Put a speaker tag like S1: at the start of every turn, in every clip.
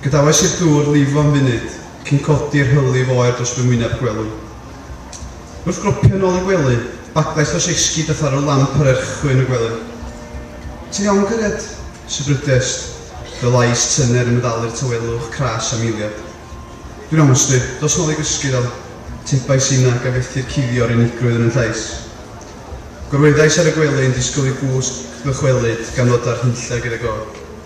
S1: Gadawais i'r dŵr lifo am funud, cyn codi'r hylif oer dros fy ngwyneb gwelw. Wrth gropio yn ôl y gwely, bagddaeth dros esgid a tharo'r lamp ar erchyll yn y gwely. Ti'n iawn, cariad? Sibrydiaist, fy lais tyner yn meddalu'r tawelwch cras am eiliad. Dwi'n iawn, Sti. Dos nôl i gysgu, do. Tebais inag a fethi'r cuddio o'r unigrwydd yn 'y llais. Gorweddais ar y gwely yn disgwyl i gwsg ddychwelyd gan ddod â'r hunlle gyda go.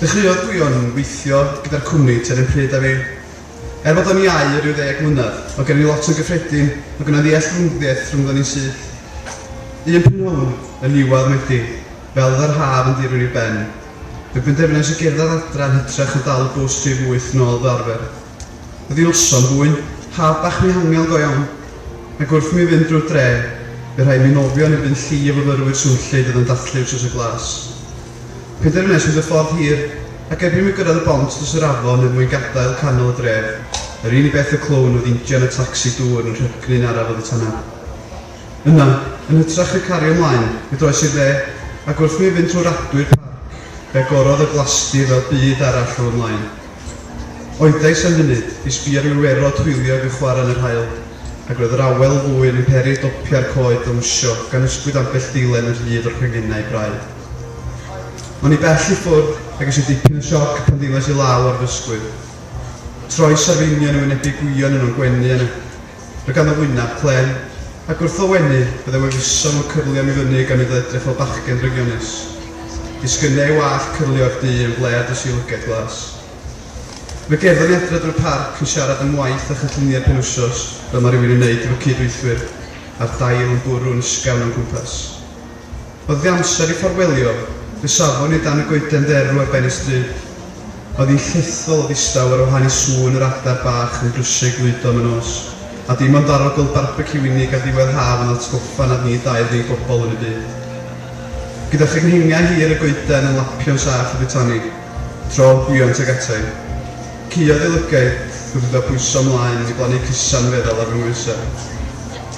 S1: Dechreuodd Gwion weithio gyda'r cwmni tua'r un pryd â fi. Er bod o'n iau o ryw ddeg mlynedd, oedd gennym ni lot yn gyffredin ac o' 'na ddealltwriaeth rhyngddon ni syth. Un prynhawn yn niwedd Medi, fel oedd yr haf yn dirwyn i'w ben, fe benderfynais i gerdded adra yn hytrach na dal y bws rhif wyth nôl fel arfer. Oddi wrtho'n fwyn, haf bach mihangel go iawn, ac wrth i mi fynd drwy'r dre, bu rhaid mi nofio yn erbyn llu o fyfyrwyr swnllyd oedd yn dathlu wsos y glas. Penderfynais fynd y ffordd hir, ac erbyn i mi gyrraedd y bont dros yr afon er mwyn gadael canol y dref, yr un i beth y clyw'n oedd injan y tacsi dŵr yn rhepgnu'n araf oddi tan'na. Yna, yn hytrach na cario ymlaen, mi droes i'r dde, ac wrth i mi fynd trwy radwy'r parc, fe agorodd y glasdy fel byd arall o fy mlaen. Oedais am funud i sbio ar Iwerddod hwyliog yn chwarae yn yr haul, ac roedd yr awel ddwyn yn peri dopiau'r coed dawnsio gan ysgwyd ambell ddilen yn rhydd o'r canghennau braidd. O'n i bell i ffwrdd a ges i dipyn o sioc pan ddilais i law ar fy ysgwydd. Troes arfeinion yn wynebu gwion yn o'n gwenu a Mae ganddo wyneb clên, ac wrth o wenu, byddai wefuso mewn cyflion i fyny gan iddo edrych fel bachgen drygionus. Disgynna ei wallt cyrlio i'r du yn flêr dros ei lygaid glas. Mae Gerddo'n edrad drwy'r parc yn siarad am waith a chynlluniau penwysos, fel mae rhywun yn wneud efo cyd-weithwyr, a'r dail yn bwrw yn ysgafn o'n cwmpas. Oedd fy amser i ffarwelio fy safon i dan y goeden dderw ar ben y stryd. Oedd hi'n llethol o ddistaw ar wahân i sŵn yr adar bach yn drysio i glwydo am y nos, a dim ond daro gweld barbeciw unig ar ddiwedd haf yn atgoffa nad ni dau oedd ei bobl yn y byd. Gyda chyngheingiau hir y goeden yn lapio'n saff oddi tani, tro buont ag atai. Caeodd ei lygaid wrth iddo bwyso ymlaen i blannu cysan feddal ar fy nghoesau.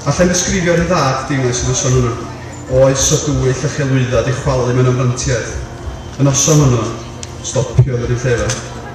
S1: Alla i'm ddisgrifio rhyddhad deimlais y noson honno. Oes o dwyll a chelwyddau 'di chwalu mewn amrantiaeth? Y noson honno, stopiodd yr un llefa.